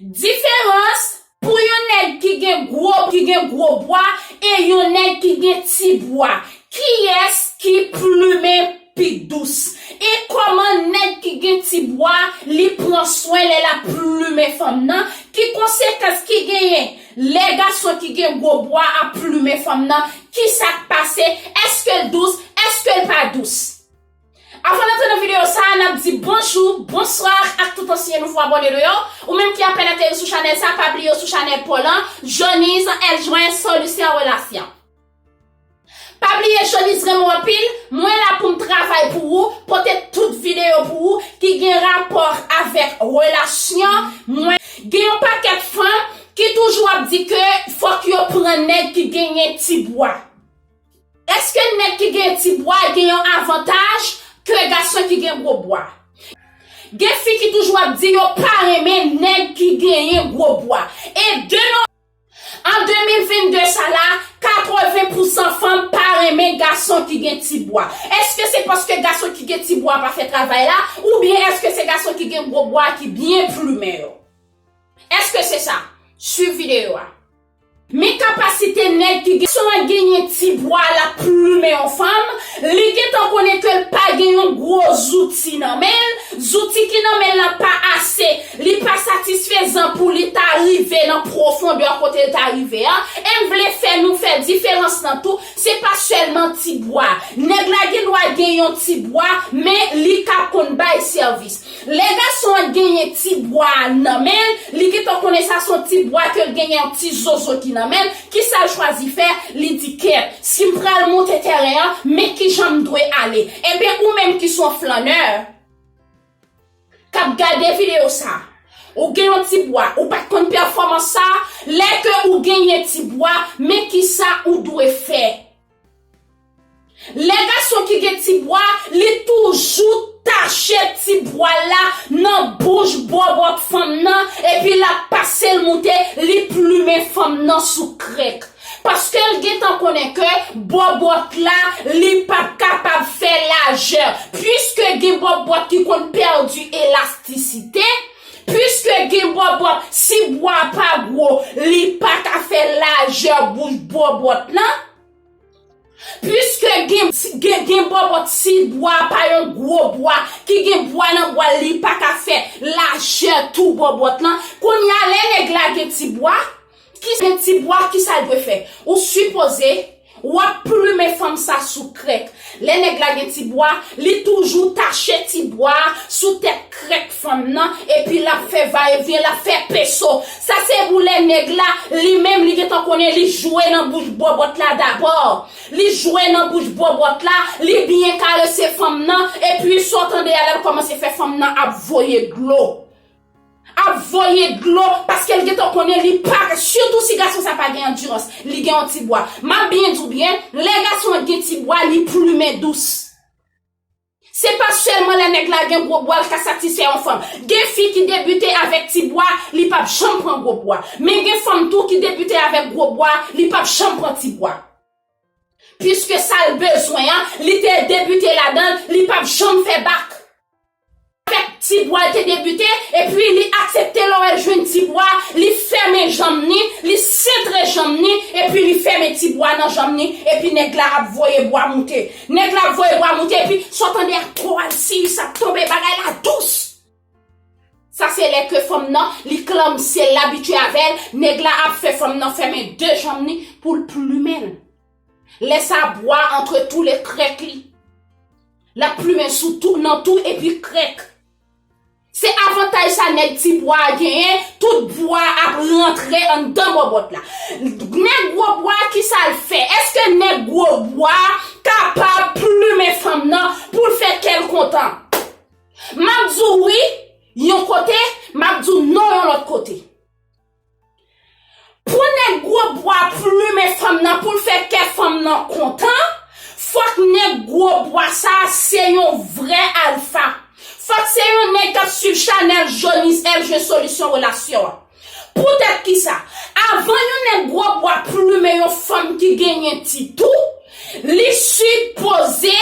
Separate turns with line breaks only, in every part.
Diferans Pou yon nèg ki gen gwo ki gen gwo bwa e yon nèg ki gen ti bwa kiyès ki plumen pi dous e kòman nèg ki gen ti bwa li pran swen lè lap plumen fanm nan ki konsekans ki genyen lè gason ki gen gwo bwa ap plumen fanm nan kisak pase èskel dous èskel pa dous. Avan n antre nan videyo sa a, n ap di bonjou, bonswa ak tout ansyen nouvo abòne nou yo. Ou menm ki apèn ateri sou chanèl sa a, pa bliye ou sou chanèl Paul lan, Jhonny's, Eljwen, Solisyon Relasyon. Pa bliye Jhonny's renmen w anpil, mwen la pou m travay pou ou, pote tout videyo pou ou ki gen rapò avèk relasyon, mwen. Gen yon pakèt fanm ki toujou ap di ke fòk yo pran nèg ki genyen ti bwa. Eske nèg ki gen ti bwa gen yon avantaj ke gason ki gen gwo bwa? Gen fi ki toujou ap di yo pa renmen nèg ki genyen gwo bwa. E de no. An 2022 sa la, 80 pou 100 fanm pa renmen gason ki gen ti bwa. Eske se paske gason ki gen ti bwa pa fè travay la, oubyen eske se gason ki gen gwo bwa ki byen plumen yo? Eske se sa? Swiv videyo a. Men kapasite nèg ki gen san genyen ti bwa lap plumen yon fanm, li gentan konnen kel pa gen yon gwo zouti nan menl, zouti ki nan menl la pa ase, li pa satisfezan pou li ta rive nan pwofondè kotel ta rive a, em vle fè nou fè diferans nan tou, se pa sèlman ti bwa, nèg la gendwa gen yon ti bwa men li ka konn bay sèvis. Lè gason an genyen ti bwa a nan men l, li gentan konnen sa son ti bwa ke l genyen yon ti zozo ki nan men l, kisa l chwazi fè, li di kè, si m pral monte tèren an, men kijan m dwe ale. Enben ou menm ki son flannè, kap gade videyo sa, ou gen yon ti bwa, ou pat konn pèfòmans sa, lè ke ou genyen ti bwa, men kisa ou dwe fè. Lè gason ki gen ti bwa, li toujou tache ti bwa l la nan bouch bòbòt fanm nan epi l ap pase l moute, li plimen fanm nan sou krèk. Paske l gen tan konnen ke bòbòt la, li p ap kapab fè lajè. Piske gen bòbòt ki konn pèdi elastisite, piske gen bòbòt si bwa a pa gwo, li pa ka fè lajè bouch bòbòt lan, Piske gen gen bòbò ti bwa pa yon gwo bwa ki gen bwa nan bwal li pa ka fè lajè tou bòbòt lan kounye a lè nèg la gen ti bwa ki gen ti bwa kisa l dwe fè ou sipoze wap plumen fanm sa sou krèk Lè nèg la gen ti bwa, li toujou tache ti bwa a sou tèt krèk fanm nan epi l ap fè va e vyen, l ap fè peso. Sa se pou lè nèg la, li menm li gentan konnen li jwe nan bouch bòbòt la dabò. Li jwe nan bouch bòbòt la, li byen karese fanm nan epi sa w tande a l ap kòmanse fè fanm nan ap voye dlo. ap voye dlo paskel gentan konnen li pa ka sitou si gason sa pa gen andirans li gen yon ti bwa map byen diw byen lè gason an gen ti bwa li plumen dous se pa sèlman lè nèg la gen gwo bwa li ka satisfè yon fanm gen fi ki debite avèk ti bwa li pap janm pran gwo bwa men gen fanm tou ki debite avèk gwo bwa li pap janm pran ti bwa puiske sal bezwen an li te debite ladanl li pap janm fè bak. Avèk ti bwa l te debite, epi li aksepte lò el jwenn ti bwa, li fèmen janm ni, li sentre janm ni, epi li fèmen ti bwa nan janm ni, epi nèg la ap voye bwa moute. Nèg la ap voye bwa moute epi sa w tande a tro alsiyis ap tonbe bagay la dous. Sa se lè ke fanm nan li klamse l abitye avè l, nèg la ap fè fanm nan fèmen 2 janm ni pou l plumen l. Lè sa a bwa a antre tou le krèk li. L ap plumen sou tou, nan tou epi krèk. Se avantaj sa nèg ti bwa a genyen, tout bwa a ap rantre anndan bòbòt la. Nèg gwo bwa a ki sa l fè? Èske nèg gwo bwa a kapab plumen fanm nan pou l fè kè l kontan? M ap di w wi yon kote, m ap di w non yon lòt kote. Pou nèg gwo bwa plumen fanm nan poul fè kè fanm nan kontan, fòk nèg gwo bwa sa se yon vrè alfa. Fòk se yon nèg kap swiv chanèl Jonis FJ solisyon relasyon an. Poutèt kisa? Avan yon nèg gwo bwa plumen yon fanm ki genyen titou, li sipoze.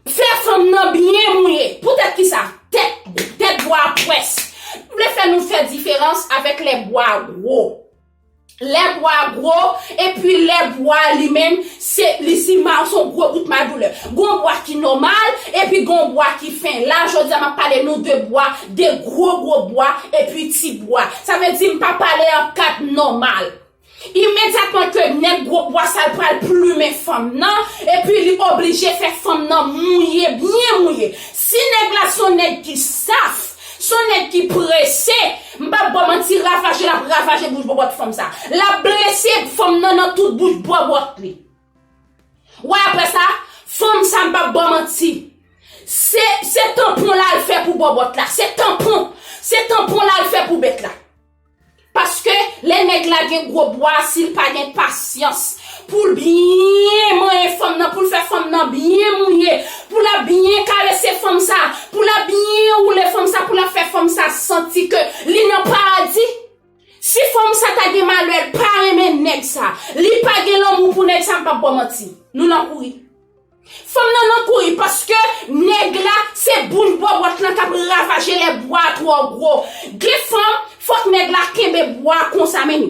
Fè fanm nan byen mouye. Poutèt ki sa? Tèt, tèt bwa a pwès. M vle fè nou fè diferans avèk lè bwa a gwo. Lè bwa a gwo, epi lè bwa a li menm, se, li si ma, se yon gwo bout madoulè. Gon bwa ki nòmal, epi gon bwa ki fen. La, jodi a, m ap pale nou de bwa, de gwo gwo bwa, epi ti bwa. Sa vle di m pa pale an kat nòmal. Imedyatman ke nèg gwo bwa sa l pral plumen fanm nan, epi li oblije fè fanm nan mouye, byen mouye. Si nèg la s on nèg ki saf, s on nèg ki prese, m p ap ba w manti, ravaje l ap ravaje bouch bòbòt fanm sa. L ap blese fanm nan nan tout bouch bòbòt li. Wè apre sa, fanm sa m p ap ba w manti, se tanpon l al fè pou bòbòt la, se tanpon, se tanpon l al fè pou bèt la. Paske lè nèg la gen gwo bwa a sil pa gen pasyans poul byen manyen fanm nan poul fè fanm nan byen mouye pou lap byen karese fanm sa pou lap byen woule fanm sa pou lap fè fanm sa santi ke li nan paradi si fanm sa ta gen malèl pa renmen nèg sa li pa gen lanmou pou nèg sa m pap baw manti nou nan kouri. Fanm nan nan kouri paske nèg la se boul bòbòt lan kap ravaje lè bwa a twò gwo gen fanm fòk nèg la kenbe bwa a konsa menm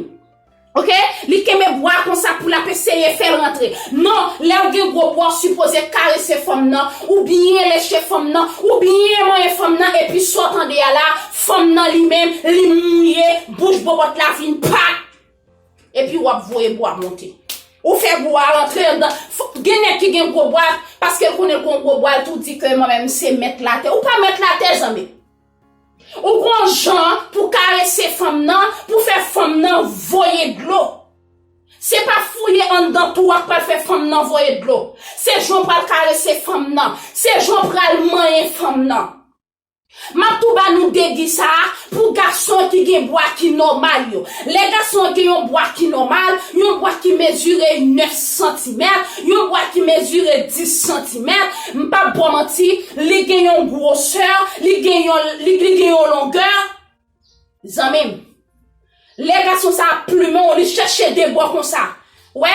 ok li kenbe bwa a konsa pou lap eseye fèl rantre non lèw gen gwo bwa ou sipoze karese fanm nan ou byen leche fanm nan ou byen manyen fanm nan epi sa w tande a la fanm nan li menm li mouye bouch bòbòt la vin pa Epi wap voye bwa monte. Ou fè bwa a rantre andan. Gen nèg ki gen gwo bwa, paske l konnen l gon gwo bwa, l tou di ke mwen menm m se mèt latè. Ou pa mèt latè zanmim. Ou gon jan pou karese fanm nan, pou fè fanm nan voye dlo. Se pa fouye andan tou a k pral fè fanm nan voye dlo. Se jan w pral karese fanm nan. Se jan w pral manyen fanm nan. Map tou ba nou degi sa a pou gason ki gen bwa ki nòmal yo. Lè gason an gen yon bwa ki nòmal, yon bwa ki mezire 9 santimèt, yon bwa ki mezire 10 santimèt, m pap ba w manti, li gen yon gwosè, li gen yon, li gen yon longè, Zanmim. Lè gason sa ap plumen w li chèche de bò konsa. Wè?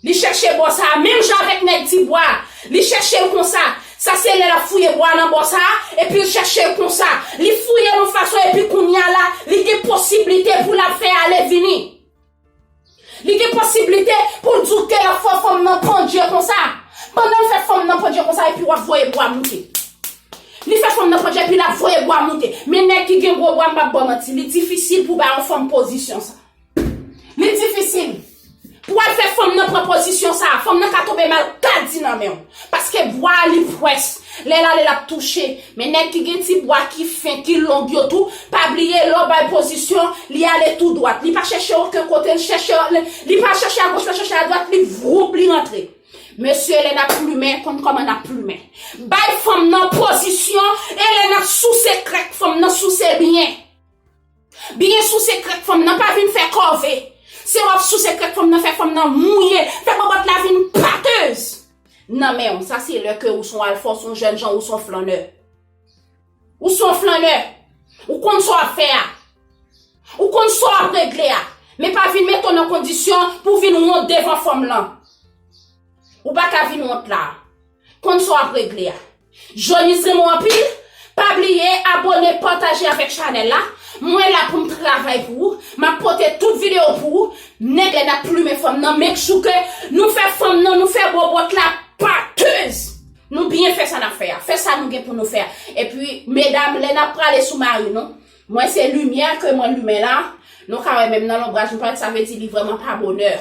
Li chèche bò sa, menm jan avèk nèg ti bwa a. Li chèche l konsa. Sa se lè l ap fouye bwa nan bò sa, epi l chèche l konsa. Li fouye l yon fason epi kounya la, li gen posiblite pou l ap fè ale vini. Li gen posiblite pou l di w teyòk fò fanm nan pandje konsa. Pandan l fè fanm nan pandje konsa epi w ap voye bwa moute. Li fè fanm nan pandje epi l ap voye bwa moute. Men nèg ki gen gwo bwa m pa p ba w manti, li difisil pou w bay yon fanm pozisyon sa. Li difisil. Pou w al fè fanm nan pran pozisyon sa, fanm nan ka tonbe mal kadi nan men w. Paske bwa a li pwès, lè l ale l ap touche. Men nèg ki gen ti bwa ki fen, ki long yo tou, pa bliye lè w bay pozisyon, li ale tou dwat. Li pa chèche oken kote, li chèche, li pa chèche agoch, li pa chèche adwat, li vwoup, li rantre. Mesye lè n ap plumen, konn kòman n ap plumen. Bay fanm nan pozisyon e lè n ap souse krèk fanm nan souse byen. Byen souse krèk fanm nan pa vin fè kòve se wap souse krèk fanm nan fè fanm nan mouye fè bòbòt la vin pateuz nan menw sa se lè ke ou son alfa ou son jènjan ou son flannè ou son flannè ou konn sa wap fè a ou konn sa wap regle a men pa vin mete w nan kondisyon pou vin wont devan fanm lan ou paka vin wont la konn sa wap regle a. Johnny's renmen w anpil Pa bliye abone pataje avèk chanèl la Mwen la poum travay pou ou Map pote tout video pou ou Nèg lèd ap plumen fanm nan make sure ke nou fè fanm nan nou fè bòbòt la pateuse Nou byen fè sa nap fè a Fè sa nou gen pou nou fè a Epi medam lè nap prale sou mari nou Mwen se limyè ke mwen limen la Nou ka wè menm nan lonbraj nou pral sa vle di li vrèman pa bonè.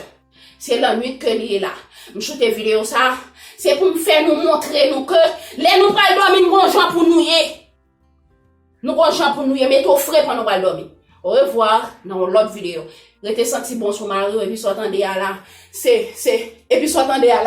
Se lannwit ke li ye la. M choute video sa, se pou m fè nou montre nou ke lè nou pral dòmi n gon jan pou nou ye. Nou gon jan pou nou ye, mete w fre pandan w pral dòmi. Au revoir, nan yon lòt video. Rete santi bon sou mari w epi sa w tande a la, se, se, epi sa w tande a la.